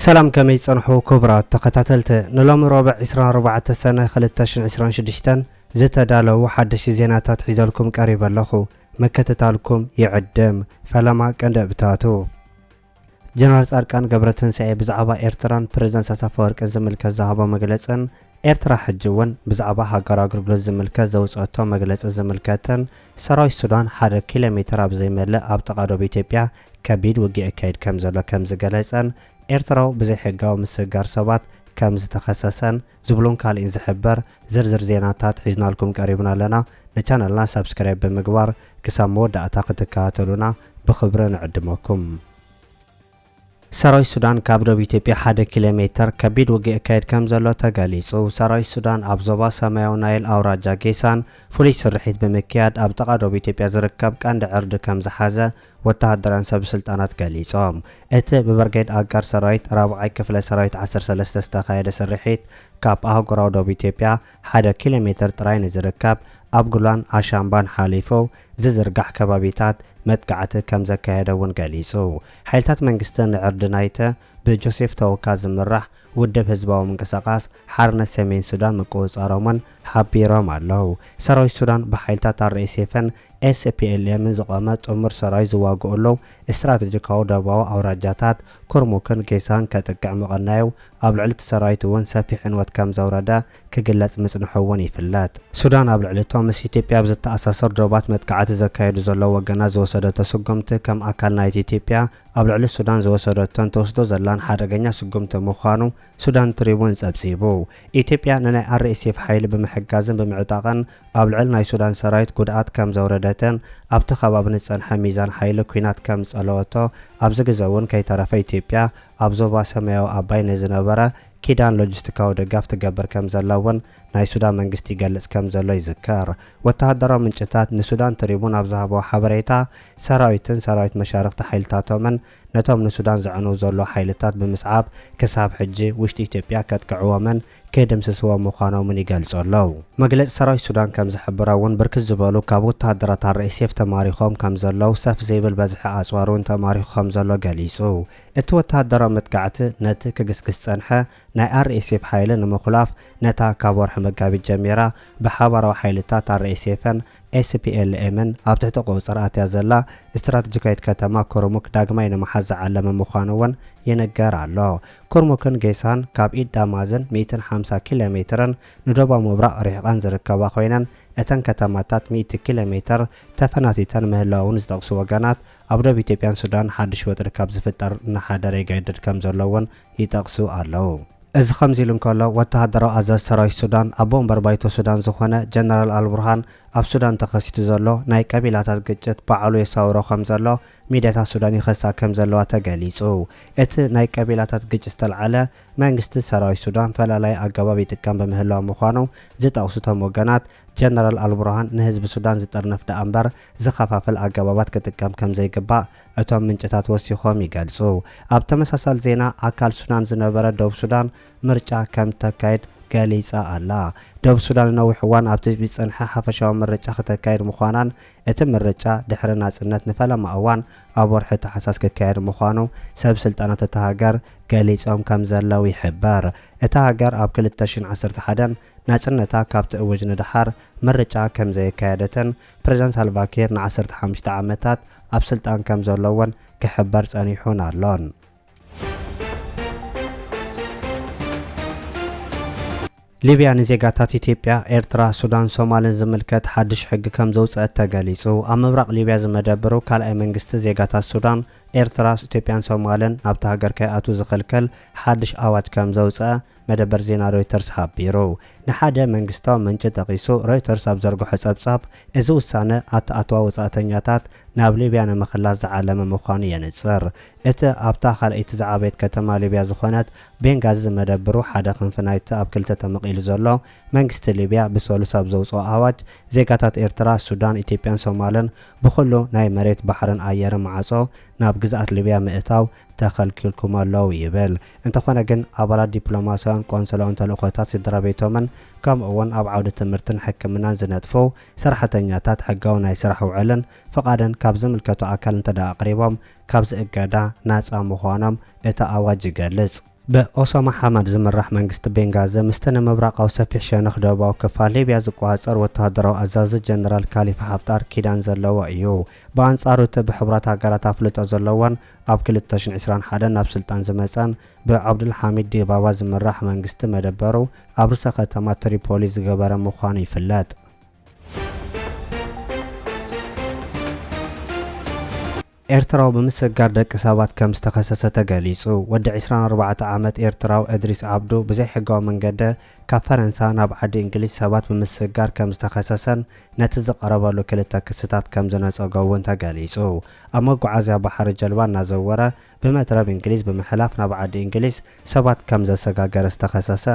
ሰላም ከመይ ጸንሑ ክቡራት ተኸታተልቲ ንሎሚ ሮብዕ 24 ሰነ 2026 ዝተዳለዉ ሓደሽቲ ዜናታት ሒዘልኩም ቀሪበ ኣለኹ ምክትታልኩም ይዕድም ፈለማ ቀንደብታቱ ጀነራል ጻድቃን ገብረትንሳኤ ብዛዕባ ኤርትራን ፕረዚደንት ኢሳያስ ኣፈወርቂን ዝምልከት ዝሃቦ መግለጽን ኤርትራ ሕጂ'ውን ብዛዕባ ሃገራዊ ኣገልግሎት ዝምልከት ዘውጸኣቶ መግለጺ ዝምልከትን ሰራዊት ሱዳን ሓደ ኪሎሜተር ኣብ ዘይመልእ ኣብ ጥቓ ዶብ ኢትዮጵያ ከቢድ ውግእ የካይድ ከምዘሎ ከምዝገለጸን ኤርትራዊ ብዘይሕጋዊ ምስግጋር ሰባት ከምዝተኸሰሰን ዝብሉን ካሊእን ዝሕበር ዝርዝር ዜናታት ሒዝናልኩም ቀሪብና ኣለና ንቻነልና ሳብስክራይብ ብምግባር ክሳብ መወዳእታ ክትከታተሉና ብኽብሪ ንዕድመኩም። ሰራዊት ሱዳን ካብ ዶብ ኢትዮጵያ ሓደ ኪሎ ሜተር ከቢድ ውግእ የካይድ ከምዘሎ ተገሊጹ። ሰራዊት ሱዳን ኣብ ዞባ ሰማያዊ ናይል ኣውራጃ ጌሳን ፍሉይ ስርሒት ብምክያድ ኣብ ጥቓ ዶብ ኢትዮጵያ ዝርከብ ቀንዲ ዕርዲ ከምዝሓዘ ወተሃደራን ሰብስልጣናት ገሊጾም። እቲ ብብርጌድ ኣጋር ሰራዊት ራብዓይ ክፍለ ሰራዊት ዓሰርተ ሰለስተ ዝተኻየደ ስርሒት ካብ ኣህጉራዊ ዶብ ኢትዮጵያ ሓደ ኪሎ ሜትር ጥራይ ንዝርከብ ኣብ ጉሏን ኣሻምባን ሓሊፉ ዝዝርጋሕ ከባቢታት መጥቃዕቲ ከምዘካየደ'ውን ገሊጹ። ሓይልታት መንግስቲ ንዕርዲ ናይቲ ብጆሴፍ ተወካ ዝምራሕ ውድብ ህዝባዊ ምንቅስቓስ ሓርነት ሰሜን ሱዳን ምቁጽጻሮም'ውን ሓቢሮም ኣለው። ሰራዊት ሱዳን ብሓይልታት ኣር-ኤስ-ኤፍን ኤስፒኤልኤምን ዝቖመ ጥሙር ሰራዊት ዝዋግኡሉ ስትራተጂካዊ ደቡባዊ ኣውራጃታት ኩርሙክን ጌሳን ከጥቅዕ ምቕናዩ ኣብ ልዕሊ'ቲ ሰራዊት'ውን ሰፊሕ ዕንወት ከምዘውረደ ክግለጽ ምጽንሑ'ውን ይፍለጥ። ሱዳን ኣብ ልዕሊ'ቶም ምስ ኢትዮጵያ ኣብ ዝተኣሳሰሩ ዶባት መጥቃዕቲ ዘካይዱ ዘለው ወገናት ዝወሰደቶ ስጉምቲ ከም ኣካል ናይቲ ኢትዮጵያ ኣብ ልዕሊ ሱዳን ዝወሰደቶን ትወስዶ ዘላን ሓደገኛ ስጉምቲ ምዃኑ ሱዳን ትሪቡን ፀብፂቡ። ኢትዮጵያ ንናይ RSF ሓይሊ ብምሕጋዝን ብምዕጣቕን ኣብ ልዕሊ ናይ ሱዳን ሰራዊት ጉድኣት ከም ዘውረደትን ኣብቲ ከባቢ ንዝፀንሐ ሚዛን ሓይሊ ኲናት ከም ዝፀለወቶ ኣብዚ ግዘ እውን ከይተረፈ ኢትዮጵያ ኣብ ዞባ ሰማያዊ ኣባይ ንዝነበራ ኪዳን ሎጂስቲካዊ ደጋፍ ትገብር ከም ዘላ እውን ናይ ሱዳን መንግስቲ ይገልጽ ከም ዘሎ ይዝከር። ወተሃደራዊ ምንጭታት ንሱዳን ትሪቡን ኣብ ዝሃብዎ ሓበሬታ፣ ሰራዊትን ሰራዊት መሻርኽቲ ሓይልታቶምን ነቶም ንሱዳን ዘዕንው ዘለዉ ሓይልታት ብምስዓብ ክሳብ ሕጂ ውሽጢ ኢትዮጵያ ከጥቅዕዎምን ከይድምስስዎም ምዃኖምን ይገልጹ ኣለዉ። መግለጺ ሰራዊት ሱዳን ከም ዝሕብሮ እውን ብርክት ዝበሉ ካብ ወተሃደራት RSF ተማሪኾም ከም ዘለዉ ሰፍ ዘይብል በዝሒ ኣጽዋር እውን ተማሪኹ ከም ዘሎ ገሊጹ። እቲ ወተሃደራዊ መጥቃዕቲ ነቲ ክግስግስ ዝጸንሐ ናይ RSF ሓይሊ ንምኹላፍ ነታ ካብ ወርሒ መጋቢት ጀሚራ ብሓባራዊ ሓይልታት RSFን SPLMን ኣብ ትሕቲ ቁጽጽር ኣትያ ዘላ ስትራተጂካዊት ከተማ ኩርሙክ ዳግማይ ንምሓዝ ዝዓለመ ምዃኑ'ውን ይንገር ኣሎ። ኩርሙክን ጌሳን ካብ ኢድ ዳማዝን ሚእትን ሓምሳ ኪሎ ሜትርን ንደቡባዊ ምብራቕ ርሒቐን ዝርከባ ኮይነን እተን ከተማታት ሚእቲ ኪሎ ሜትር ተፈናቲተን ምህላወውን ዝጠቕሱ ወገናት ኣብ ዶብ ኢትዮጵያን ሱዳን ሓዱሽ ወጥሪ ካብ ዝፍጠር እናሓደረ ይገድድ ከም ዘሎ እውን ይጠቕሱ ኣለዉ። እዚ ከምዚ ኢሉ እንከሎ፣ ወተሃደራዊ ኣዛዚ ሰራዊት ሱዳን፣ ኣቦ ወንበር ባይቶ ሱዳን ዝዀነ ጀነራል ኣልቡርሃን፣ ኣብ ሱዳን ተኸሲቱ ዘሎ ናይ ቀቢላታት ግጭት ባዕሉ የሳውሮ ከም ዘሎ ሚድያታት ሱዳን ይኸሳ ከም ዘለዋ ተገሊጹ። እቲ ናይ ቀቢላታት ግጭት ዝተልዓለ፣ መንግስቲ ሰራዊት ሱዳን ፈላላዪ ኣገባብ ይጥቀም ብምህላዉ ምዃኑ ዝጠቕሱ እቶም ወገናት፣ ጀነራል ኣልቡርሃን ንህዝቢ ሱዳን ዝጥርንፍ ደኣ'ምበር፣ ዝኸፋፍል ኣገባባት ክጥቀም ከምዘይግባእ እቶም ምንጭታት ወሲኾም ይገልጹ። ኣብ ተመሳሳሊ ዜና ኣካል ሱዳን ዝነበረ ደቡብ ሱዳን ምርጫ ከምተካይድ ገሊጻ ኣላ። ደቡብ ሱዳን ንነዊሕ እዋን ኣብ ትጽቢት ዝጸንሐ ሓፈሻዊ ምርጫ ክተካይድ ምዃናን እቲ ምርጫ ድሕሪ ናጽነት ንፈለማ እዋን ኣብ ወርሒ ታሕሳስ ክካየድ ምዃኑ ሰብ ስልጣናት እታ ሃገር ገሊጾም ከምዘለው ይሕበር። እታ ሃገር ኣብ ክልተ ሽሕን ዓሰርተ ሓደን ናጽነታ ካብ ትእውጅ ንደሓር ምርጫ ከምዘየካየደትን ፕረዚደንት ሳልቫኪር ንዓሰርተ ሓሙሽተ ዓመታት ኣብ ስልጣን ከም ዘሎ'ውን ክሕበር ጸኒሑን ኣሎን። ሊብያ ንዜጋታት ኢትዮጵያ፣ ኤርትራ፣ ሱዳን፣ ሶማልን ዝምልከት ሓድሽ ሕጊ ከም ዘውጸአት ተገሊጹ። ኣብ ምብራቕ ሊብያ ዝመደብሩ ካልኣይ መንግስቲ ዜጋታት ሱዳን፣ ኤርትራ፣ ኢትዮጵያን ሶማልን ናብታ ሃገር ከይኣትዉ ዝኽልክል ሓድሽ ኣዋጅ ከም ዘውጸኣ መደበር ዜና ሮይተርስ ሓቢሩ። ንሓደ መንግስታዊ ምንጪ ጠቒሱ ሮይተርስ ኣብ ዘርግሖ ጸብጻብ፣ እዚ ውሳነ ኣተኣትዋ ወጻእተኛታት ናብ ሊብያ ንምኽላስ ዝዓለመ ምዃኑ የንጽር። እቲ ኣብታ ካልኣይቲ ዝዓበየት ከተማ ሊብያ ዝኾነት ቤንጋዚ ዝመደብሩ ሓደ ክንፊ ናይቲ ኣብ ክልተ ተመቒሉ ዘሎ መንግስቲ ሊብያ ብሰሉስ ኣብ ዘውጽኦ ኣዋጅ፣ ዜጋታት ኤርትራ፣ ሱዳን፣ ኢትዮጵያን ሶማልን ብኹሉ ናይ መሬት፣ ባሕርን ኣየርን ማዕጾ ናብ ግዝኣት ሊብያ ምእታው ተኸልኪልኩም ኣለው ይብል። እንተኾነ ግን ኣባላት ዲፕሎማሲያውን ቆንስላውን ተልእኾታት ስድራቤቶምን ከምኡ'ውን ኣብ ዓውዲ ትምህርትን ሕክምናን ዝነጥፉ ሰራሕተኛታት ሕጋዊ ናይ ስራሕ ውዕልን ፍቓድን ካብ ዝምልከቶ ኣካል እንተድኣ ኣቕሪቦም ካብዚ እገዳ ናጻ ምዃኖም እቲ ኣዋጅ ይገልጽ። ብኦሳማ ሓማድ ዝምራሕ መንግስቲ ቤንጋዘ ምስቲ ንምብራቓዊ ሰፊሕ ሸነኽ ደቡባዊ ክፋል ሊብያ ዝቆጻጸር ወተሃደራዊ ኣዛዚ ጀነራል ካሊፋ ሓፍጣር ኪዳን ዘለዎ እዩ። ብኣንጻሩ እቲ ብሕቡራት ሃገራት ኣፍልጦ ዘለዎን ኣብ ክልተ ሽሕን ዕስራን ሓደን ናብ ስልጣን ዝመጸን ብዓብዱል ሓሚድ ዲባባ ዝምራሕ መንግስቲ መደበሩ ኣብ ርእሰ ከተማ ትሪፖሊ ዝገበረ ምዃኑ ይፍለጥ። ኤርትራዊ ብምስጋር ደቂ ሰባት ከም ዝተኸሰሰ ተገሊጹ። ወዲ ዕስራን ኣርባዕተ ዓመት ኤርትራዊ እድሪስ ዓብዱ ብዘይሕጋዊ መንገደ ካብ ፈረንሳ ናብ ዓዲ እንግሊዝ ሰባት ብምስግጋር ከም ዝተኸሰሰን ነቲ ዝቐረበሉ ክልተ ክስታት ከም ዝነጸጎ'ውን ተገሊጹ። ኣብ መጓዓዝያ ባሕሪ ጀልባ እናዘወረ ብመትረብ እንግሊዝ ብምሕላፍ ናብ ዓዲ እንግሊዝ ሰባት ከም ዘሰጋገረ ዝተኸሰሰ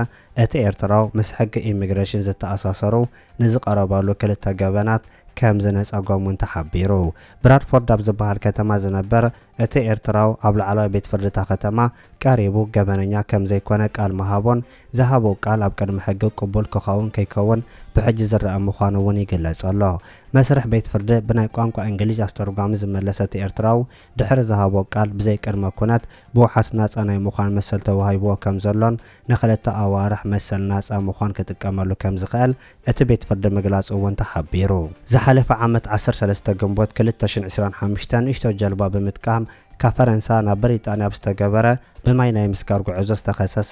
እቲ ኤርትራዊ ምስ ሕጊ ኢሚግሬሽን ዝተኣሳሰሩ ንዝቐረበሉ ክልተ ገበናት ከም ዝነጸጎም'ውን ተሓቢሩ። ብራድፎርድ ኣብ ዝበሃል ከተማ ዝነበር እቲ ኤርትራዊ ኣብ ላዕለዋይ ቤት ፍርዲ'ታ ከተማ ቀሪቡ ገበነኛ ከም ዘይኮነ ቃል ምሃቡን ዝሃቦ ቃል ኣብ ቅድሚ ሕጊ ቅቡል ክኸውን ከይከውን ብሕጂ ዝረኣ ምዃኑ'ውን ይግለጽ ኣሎ። መስርሕ ቤት ፍርዲ ብናይ ቋንቋ እንግሊዥ ኣስተርጓሚ ዝመለሰ እቲ ኤርትራዊ፣ ድሕሪ ዝሃቦ ቃል ብዘይ ቅድመ ኩነት ብውሓስ ናጻ ናይ ምዃን መሰል ተዋሂብዎ ከም ዘሎን ንክልተ ኣዋርሕ መሰል ናጻ ምዃን ክጥቀመሉ ከም ዝኽእል እቲ ቤት ፍርዲ ምግላጹ እውን ተሓቢሩ። ዝሓለፈ ዓመት ዓሰርተ ሰለስተ ግንቦት ክልተ ሽሕን ዕስራን ሓሙሽተ ንእሽቶ ጀልባ ብምጥቃም ካብ ፈረንሳ ናብ ብሪጣንያ ኣብ ዝተገበረ ብማይ ናይ ምስጋር ጉዕዞ ዝተኸሰሰ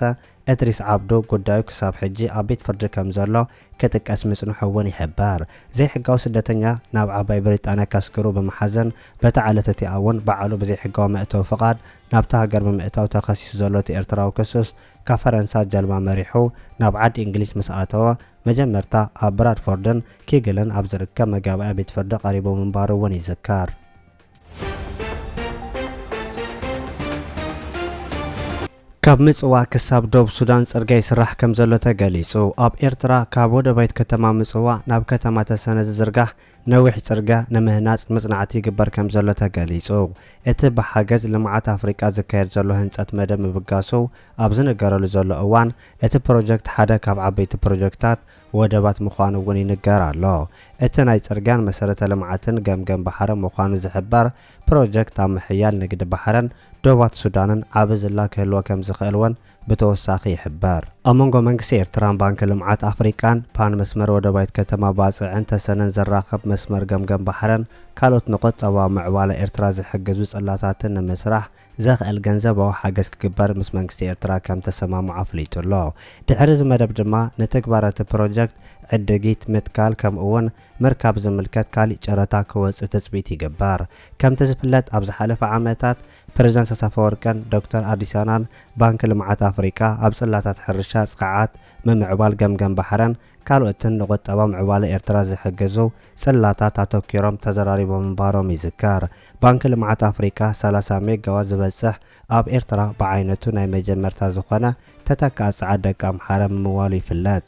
እድሪስ ዓብዱ ጉዳዩ ክሳብ ሕጂ ኣብ ቤት ፍርዲ ከም ዘሎ ክጥቀስ ምጽንሑ እውን ይሕበር። ዘይሕጋዊ ስደተኛ ናብ ዓባይ ብሪጣንያ ከስግሩ ብምሓዘን በታ ዕለት እቲኣ እውን ባዕሉ ብዘይሕጋዊ መእተዊ ፍቓድ ናብታ ሃገር ብምእታው ተኸሲሱ ዘሎ እቲ ኤርትራዊ ክሱስ ካብ ፈረንሳ ጀልባ መሪሑ ናብ ዓዲ እንግሊዝ ምስ ኣተወ መጀመርታ ኣብ ብራድፎርድን ኪግልን ኣብ ዝርከብ መጋባእያ ቤት ፍርዲ ቀሪቡ ምንባሩ እውን ይዝከር። ካብ ምጽዋዕ ክሳብ ዶብ ሱዳን ጽርግያ ይስራሕ ከምዘሎ ተገሊጹ። ኣብ ኤርትራ ካብ ወደባይት ከተማ ምጽዋዕ ናብ ከተማ ተሰነ ዝዝርጋሕ ነዊሕ ጽርግያ ንምህናጽ መጽናዕቲ ይግበር ከምዘሎ ተገሊጹ። እቲ ብሓገዝ ልምዓት ኣፍሪቃ ዝካየድ ዘሎ ህንጸት መደብ ምብጋሱ ኣብ ዝንገረሉ ዘሎ እዋን፣ እቲ ፕሮጀክት ሓደ ካብ ዓበይቲ ፕሮጀክታት ወደባት ምዃኑ እውን ይንገር ኣሎ። እቲ ናይ ፅርግያን መሰረተ ልምዓትን ገምገም ባሕሪ ምዃኑ ዝሕበር ፕሮጀክት ኣብ ምሕያል ንግዲ ባሕርን ዶባት ሱዳንን ዓቢ ዝላ ክህልዎ ከምዝኽእል እውን ብተወሳኺ ይሕበር። ኣብ መንጎ መንግስቲ ኤርትራን ባንኪ ልምዓት ኣፍሪቃን፣ ፓን መስመር ወደባዊት ከተማ ባጽዕን ተሰነን ዘራኽብ መስመር ገምገም ባሕርን ካልኦት ንቁጠባዊ ምዕባለ ኤርትራ ዝሕግዙ ጽላታትን ንምስራሕ ዘኽእል ገንዘባዊ ሓገዝ ክግበር ምስ መንግስቲ ኤርትራ ከም ተሰማምዑ ኣፍሊጡ ኣሎ። ድሕሪ እዚ መደብ ድማ ንትግባረ እቲ ፕሮጀክት ዕድጊት፣ ምትካል ከምኡ እውን ምርካብ ዝምልከት ካሊእ ጨረታ ክወጽእ ትጽቢት ይግበር። ከምቲ ዝፍለጥ ኣብ ዝሓለፈ ዓመታት ፕረዚደንት ኢሳያስ ኣፈወርቅን ዶክተር ኣዲሳናን ባንኪ ልምዓት ኣፍሪቃ ኣብ ጽላታት ሕርሻ፣ ጽቕዓት፣ ምምዕባል ገምገም ባሕርን ካልኦትን ንቁጠባ ምዕባለ ኤርትራ ዝሕግዙ ጽላታት ኣተኲሮም ተዘራሪቦም ምንባሮም ይዝከር። ባንኪ ልምዓት ኣፍሪካ ሰላሳ ሜጋዋት ዝበፅሕ ኣብ ኤርትራ ብዓይነቱ ናይ መጀመርታ ዝኾነ ተተካኢ ፀዓት ደቂ ኣምሓረ ምምዋሉ ይፍለጥ።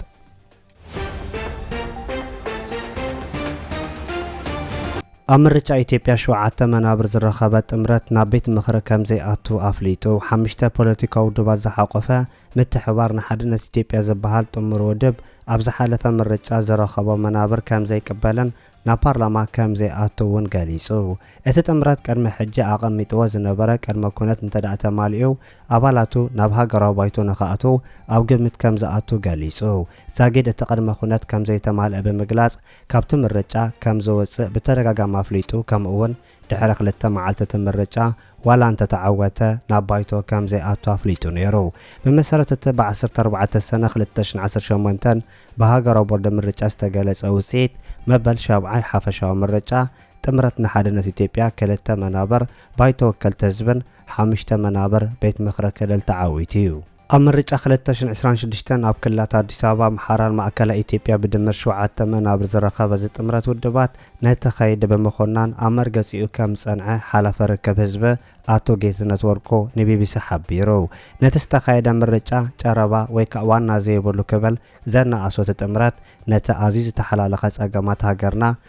ኣብ ምርጫ ኢትዮጵያ ሸውዓተ መናብር ዝረኸበ ጥምረት ናብ ቤት ምኽሪ ከምዘይኣቱ ኣፍሊጡ ሓምሽተ ፖለቲካዊ ውድባት ዝሓቖፈ ምትሕብባር ንሓድነት ኢትዮጵያ ዝበሃል ጥሙር ውድብ ኣብ ዝሓለፈ ምርጫ ዝረኸቦ መናብር ከምዘይቅበልን ናብ ፓርላማ ከም ዘይኣቱ እውን ገሊጹ። እቲ ጥምረት ቅድሚ ሕጂ ኣቐሚጥዎ ዝነበረ ቅድመ ኩነት እንተድኣ ተማሊኡ ኣባላቱ ናብ ሃገራዊ ባይቶ ንኽኣትዉ ኣብ ግምት ከም ዝኣቱ ገሊጹ። ዛጊድ እቲ ቅድመ ኩነት ከም ዘይተማልኣ ብምግላጽ ካብቲ ምርጫ ከም ዝውጽእ ብተደጋጋሚ ኣፍሊጡ ከምኡ'ውን ድሕሪ ክልተ መዓልቲ እቲ ምርጫ ዋላ እንተተዓወተ ናብ ባይቶ ከም ዘይኣቱ ኣፍሊጡ ነይሩ። ብመሰረት እቲ ብ ዓሰርተ ኣርባዕተ ሰነ ክልተ ሽሕን ዓሰርተ ሸሞንተን ብሃገራዊ ቦርድ ምርጫ ዝተገለጸ ውጽኢት መበል ሻብዓይ ሓፈሻዊ ምርጫ፣ ጥምረት ንሓድነት ኢትዮጵያ ክልተ መናብር ባይቶ ወከልቲ ህዝብን ሓሙሽተ መናብር ቤት ምኽሪ ክልል ተዓዊቱ'ዩ። ኣብ ምርጫ ክልተ ሽሕን ዕስራን ሽዱሽተን ኣብ ክልላት ኣዲስ ኣበባ፣ ኣምሓራን ማእከላይ ኢትዮጵያ ብድምር ሸውዓተ መናብር ዝረኸበ እዚ ጥምረት ውድባት ነቲ ከይዲ ብምኹናን ኣብ መርገፂኡ ከም ዝፀንዐ ሓላፊ ርክብ ህዝቢ ኣቶ ጌትነት ወርቁ ንቢቢሲ ሓቢሩ። ነቲ ዝተኻየደ ምርጫ ጨረባ ወይ ከዓ ዋና ዘይብሉ ክብል ዘናኣሶ እቲ ጥምረት ነቲ ኣዝዩ ዝተሓላለኸ ፀገማት ሃገርና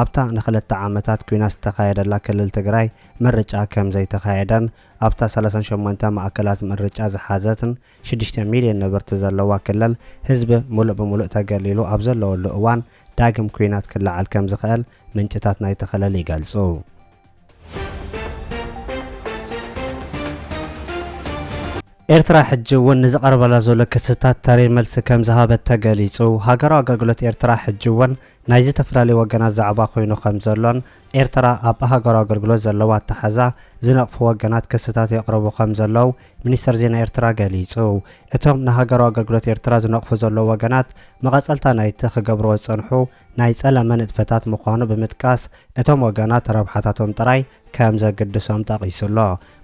ኣብታ ንክለተ ዓመታት ኲናት ዝተኻየደላ ክልል ትግራይ ምርጫ ከም ዘይተኻየደን ኣብታ ሰላሳን ሸሞንተ ማእከላት ምርጫ ዝሓዘትን ሽዱሽተ ሚልዮን ነበርቲ ዘለዋ ክልል ህዝቢ ምሉእ ብምሉእ ተገሊሉ ኣብ ዘለወሉ እዋን ዳግም ኲናት ክለዓል ከም ዝኽእል ምንጭታት ናይቲ ክልል ይገልጹ። ኤርትራ ሕጂ'ውን ንዝቐርበላ ዘሎ ክስታት ተሪር መልሲ ከምዝሃበት ተገሊጹ። ሃገራዊ ኣገልግሎት ኤርትራ ሕጂ'ውን ናይ ዝተፈላለዩ ወገናት ዛዕባ ኮይኑ ከምዘሎን ኤርትራ ኣብ ሃገራዊ ኣገልግሎት ዘለዋ ኣተሓሕዛ ዝነቕፉ ወገናት ክስታት የቕርቡ ከምዘለው ሚኒስተር ዜና ኤርትራ ገሊጹ። እቶም ንሃገራዊ ኣገልግሎት ኤርትራ ዝነቕፉ ዘለዉ ወገናት መቐጸልታ ናይቲ ክገብርዎ ዝጸንሑ ናይ ጸለመ ንጥፈታት ምዃኑ ብምጥቃስ፣ እቶም ወገናት ረብሓታቶም ጥራይ ከም ዘግድሶም ጠቒሱ ኣሎ።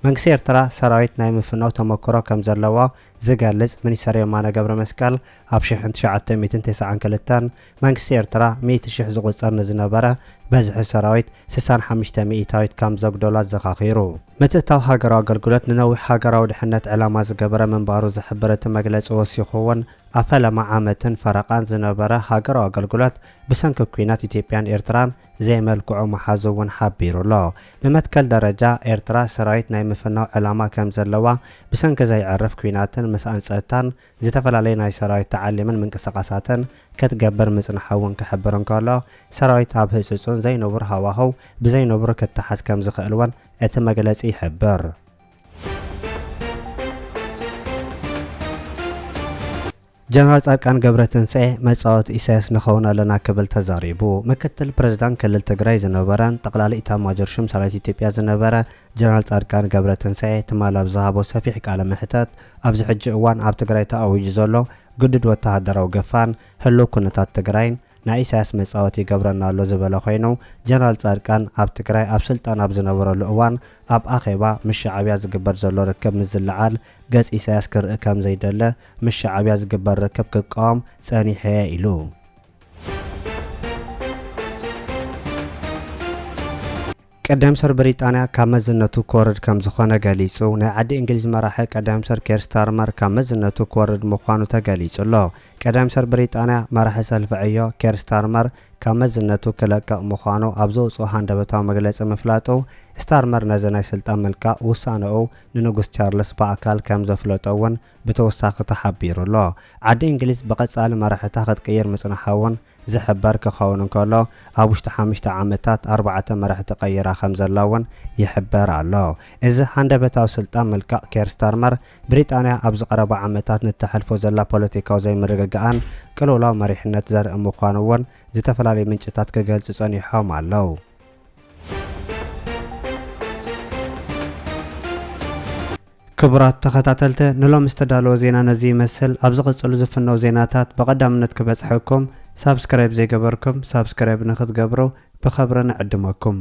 መንግስቲ ኤርትራ ሰራዊት ናይ ምፍናው ተመኩሮ ከም ዘለዎ ዝገልጽ ሚኒስተር የማነ ገብረመስቀል፣ ኣብ ሽሕን ትሽዓተ ሚእትን ተሰዓን ክልተን መንግስቲ ኤርትራ ሚእቲ ሽሕ ዝቑጸር ንዝነበረ በዝሒ ሰራዊት ስሳን ሓምሽተ ሚኢታዊት ከም ዘጉደሎ ኣዘኻኺሩ። ምትእትታው ሃገራዊ ኣገልግሎት ንነዊሕ ሃገራዊ ድሕነት ዕላማ ዝገበረ ምንባሩ ዝሕብር እቲ መግለጺ ወሲኹ'ውን፣ ኣብ ፈለማ ዓመትን ፈረቓን ዝነበረ ሃገራዊ ኣገልግሎት ብሰንኪ ኲናት ኢትዮጵያን ኤርትራን ዘይመልክዑ ምሓዙ እውን ሓቢሩ ኣሎ። ብመትከል ደረጃ፣ ኤርትራ ሰራዊት ናይ ምፍናው ዕላማ ከም ዘለዋ ብሰንኪ ዘይዕርፍ ኲናትን ምስኣን ጸጥታን ዝተፈላለየ ናይ ሰራዊት ተዓሊምን ምንቅስቓሳትን ክትገብር ምጽንሓ እውን ክሕብር እንከሎ፣ ሰራዊት ኣብ ህጹጽን ዘይንቡር ሃዋህው ብዘይንቡር ክተሓዝ ከም ዝኽእል እውን እቲ መግለጺ ይሕብር። ጀነራል ፃድቃን ገብረትንሳኤ መፃወቲ ኢሳያስ ንኸውን ኣለና ክብል ተዛሪቡ። ምክትል ፕሬዝዳንት ክልል ትግራይ ዝነበረን ጠቕላሊ ኢታማዦር ሹም ሰራዊት ኢትዮጵያ ዝነበረ ጀነራል ፃድቃን ገብረትንሳኤ ትማል ኣብ ዝሃቦ ሰፊሕ ቃለ መሕተት ኣብዚ ሕጂ እዋን ኣብ ትግራይ ተኣዊጁ ዘሎ ግዱድ ወተሃደራዊ ገፋን ህልው ኩነታት ትግራይን ናይ ኢሳያስ መጻወቲ ይገብረና ኣሎ ዝበለ ኮይኑ ጀነራል ጻድቃን ኣብ ትግራይ ኣብ ስልጣን ኣብ ዝነበረሉ እዋን ኣብ ኣኼባ ምስ ሻዕብያ ዝግበር ዘሎ ርክብ ምስ ዝለዓል ገጽ ኢሳያስ ክርኢ ከም ዘይደለ ምስ ሻዕብያ ዝግበር ርክብ ክቃወም ጸኒሐ'የ ኢሉ ቀዳም ሰር ብሪጣንያ ካብ መዝነቱ ክወርድ ከምዝኾነ ገሊጹ። ናይ ዓዲ እንግሊዝ መራሒ ቀዳም ሰር ኬር ስታርመር ካብ መዝነቱ ክወርድ ምዃኑ ተገሊጹ'ሎ። ቀዳም ሰር ብሪጣንያ መራሒ ሰልፊ ዕዮ ኬር ስታርመር ካብ መዝነቱ ክለቅቕ ምዃኑ ኣብ ዘውጽኦ ሃንደበታዊ መግለጺ ምፍላጡ ስታርመር ነዚ ናይ ስልጣን ምልቃቕ ውሳነኡ ንንጉስ ቻርልስ ብኣካል ከምዘፍለጦ'ውን ብተወሳኺ ተሓቢሩ'ሎ። ዓዲ እንግሊዝ ብቐጻሊ መራሕታ ክትቅይር ምጽንሓ'ውን ዝሕበር ክኸውን እንከሎ፣ ኣብ ውሽጢ ሓሙሽተ ዓመታት ኣርባዕተ መራሕቲ ቀይራ ከምዘላ'ውን ይሕበር ኣሎ። እዚ ሃንደበታዊ ስልጣን ምልቃቕ ኬር ስታርመር፣ ብሪጣንያ ኣብዚ ቀረባ ዓመታት ንእተሕልፎ ዘላ ፖለቲካዊ ዘይምርግጋእን ቅልውላው መሪሕነት ዘርኢ ምዃኑ'ውን ዝተፈላለዩ ምንጭታት ክገልጹ ጸኒሖም ኣለው። ክቡራት ተኸታተልተ ንሎሚ ዝተዳለወ ዜና ነዚ ይመስል ኣብ ዝቕጽሉ ዝፍነው ዜናታት ብቐዳምነት ክበጽሐኩም ሳብስክራይብ ዘይገበርኩም ሳብስክራይብ ንኽትገብሩ ብኸብሪ ንዕድመኩም።